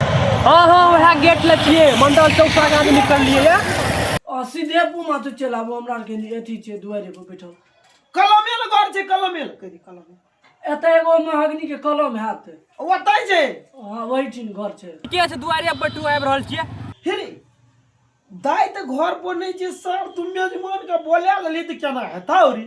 हाँ हाँ वह गेट ले छिए मंडल चौक से आगे निकल लिए या आ सीधे पुमा तो चल आबो हमरा के लिए अथी छे दुआरे पर बैठल कलमे ल घर छे कलमे ल कहि कलमे एत एगो महागनी के कलम हाथ ओतै छे हां वही ठिन घर छे के से दुआरे पर टू आबि रहल छिए हिरी दाई त घर पर नहीं छे सर तुम मेजमान के बोला लेली त केना हेता औरी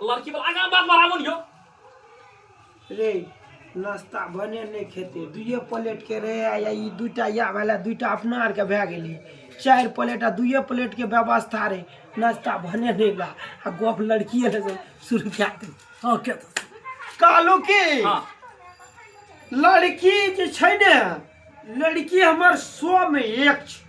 लड़की वाला आगा बात बढ़ाबो न यो रे नाश्ता भने नहि खेते दुइए प्लेट के रहे आ या ई दूटा या वाला दूटा अपना आर के भए गेलै चारि प्लेट आ दुइए प्लेट के व्यवस्था रहे नाश्ता भने नहि ला आ गप लड़किए ले से शुरू कए दे हां के कहलू कि हां लड़की जे छै ने लड़की हमर सौ में एक छै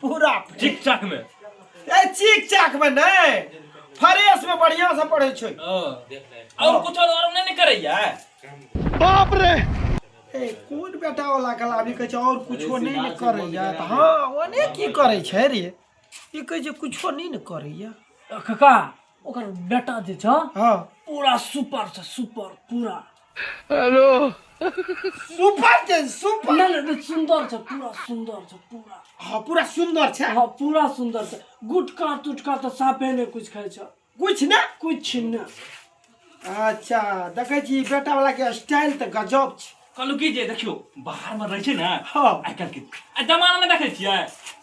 पूरा चिक चाक में ए चिक चाक में नहीं फ्रेश में बढ़िया से पढ़े छै और कुछ और और नहीं करैया बाप रे ए कोन बेटा वाला कला अभी कह और कुछ नहीं न करैया त हां ओने की करे छै रे ई कह जे कुछ नहीं न करैया कका ओकर बेटा जे छ हां पूरा सुपर छ सुपर पूरा हेलो सुपर छै सुपर ना ना, ना, सुंदर छ पूरा सुंदर छ पूरा हाँ पूरा सुंदर छै हाँ पूरा सुंदर छ गुटका तुटका तो साफे ने कुछ खाई छ कुछ ना कुछ न अच्छा देखै छी बेटा वाला के स्टाइल तऽ गजब छै कहलहुँ की जे देखियौ बाहरमे रहै छै ने हाँ। आइ काल्हिके आ जमानामे देखै छियै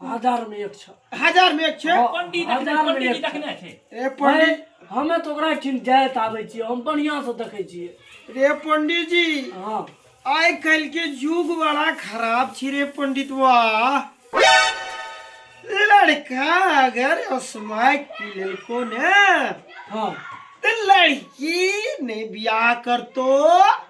हजार में एक छो हजार में एक छे हाँ, पंडित देखने- हजार में पंडित एक देखने छै रे पंडित हमे तो ओकरा ठिन जाइत आबै छियै हम बढ़ियां से देखै छियै रे पंडित जी हाँ आइ काल्हि के युग बड़ा खराब छी रे पंडित वाह लड़का अगर स्मैक पी लेलको ने हाँ तऽ लड़की नहि बियाह करतो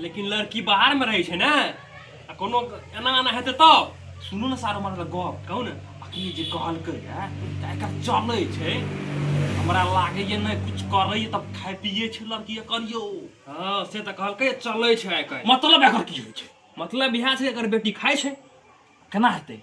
लेकिन लड़की बाहर में रहे छे ना आ कोनो एना एना हेते तो सुनो ना सारो मार गप कहू ना अखनी जे कहलकै है त एकर चले छे हमरा लागे ये ना कुछ करे ये तब खाए पिए छे लड़की ये करियो हां से त कहलकै चले छे एकर मतलब एकर की होय छे मतलब यह छे एकर बेटी खाए छे केना हेते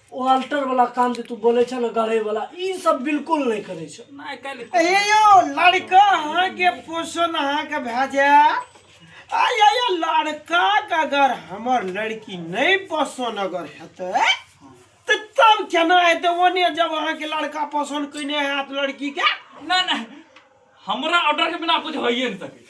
ओ अल्टर वाला काम जे तू बोले छ ना गढ़े वाला ई सब बिल्कुल नहीं करे छ नहीं कल हे यो लड़का अहाँ के पोषण अहाँ के भए जाए आय आय लड़का के अगर हमर लड़की नहीं पसंद अगर हेतै तऽ तब केना हेतै ओने जब अहाँ के लड़का पसंद कइने हैत लड़की के ना ना हमरा ऑर्डर के बिना कुछ होइए नहीं सके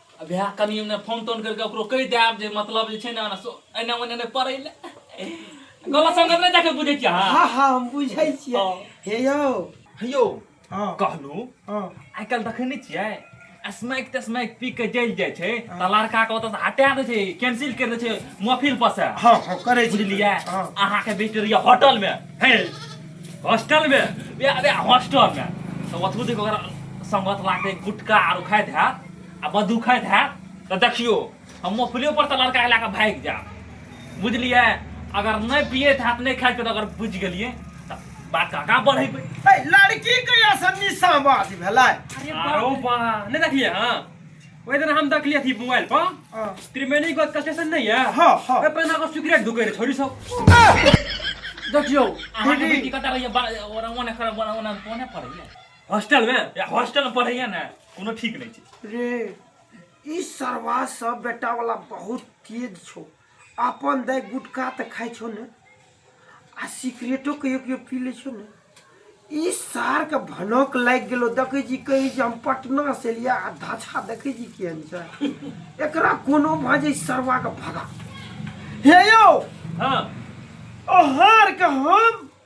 आ भए कनि ओने फोन तोन करिके ओकरो कहि देब जे मतलब जे छै ने ओना सो- एने ओने नहि पड़ै लए गलत संगत नहि देखै बुझै छियै अहाँ हाँ हाँ हम बुझै छियै हाँ। हे यौ हेयौ हाँ कहलहुँ हाँ आइ काल्हि देखै नहि छियै स्मैक तस्मैक पी के जलि जाइ छै तऽ लड़का के ओतऽ हटा दै छै कैंसिल कर दै छै मोफिल पर से हाँ हाँ करै छी बुझलियै हाँ अहाँके बेटी रहैया होटल मे हे हॉस्टल मे बे बे हॉस्टल मे तऽ ओतबो देख ओकरा संगत लागतै गुटखा आर खाइत हैत आ बदुखैत हैत तऽ देखियो हम मोफलियो पर तऽ लड़का लए कऽ भागि जायब बुझलियै अगर नहि पियैत हैत नहि खाइत अगर बुझि गेलियै तऽ बात आगाँ बढ़ेबै लड़की कहिया से निशाबाज भेलै आरो बा नहि देखलियै हँ ओहि दिन हम देखलियै अथी मोबाइल पर हाँ। त्रिवेणी गोद का स्टेशन नहीं है हाँ, हाँ। ओहि पर ना को सिगरेट ढुके रहे छोरी सब देखियो अहाँके दीदी। बेटी कतऽ रहियै बा- ओना ओने खड़ा ओना ओना ओने पड़ैया हॉस्टल में या हॉस्टल में पढ़ैया ने कोनो ठीक नहीं छै रे ई सरवा सब बेटा वाला बहुत तेज छो अपन दाय गुटखा तऽ खाइ छो ने आ सिगरेटो कहियो कहियो पी लै छो ने ई सार के भनक लागि गेलो देखै छी कहै छी हम पटना से एलिया आ धाछा देखै छी केहन छै एकरा कोनो भाजे सरवा के भगा हे यौ हाँ ओहार के हम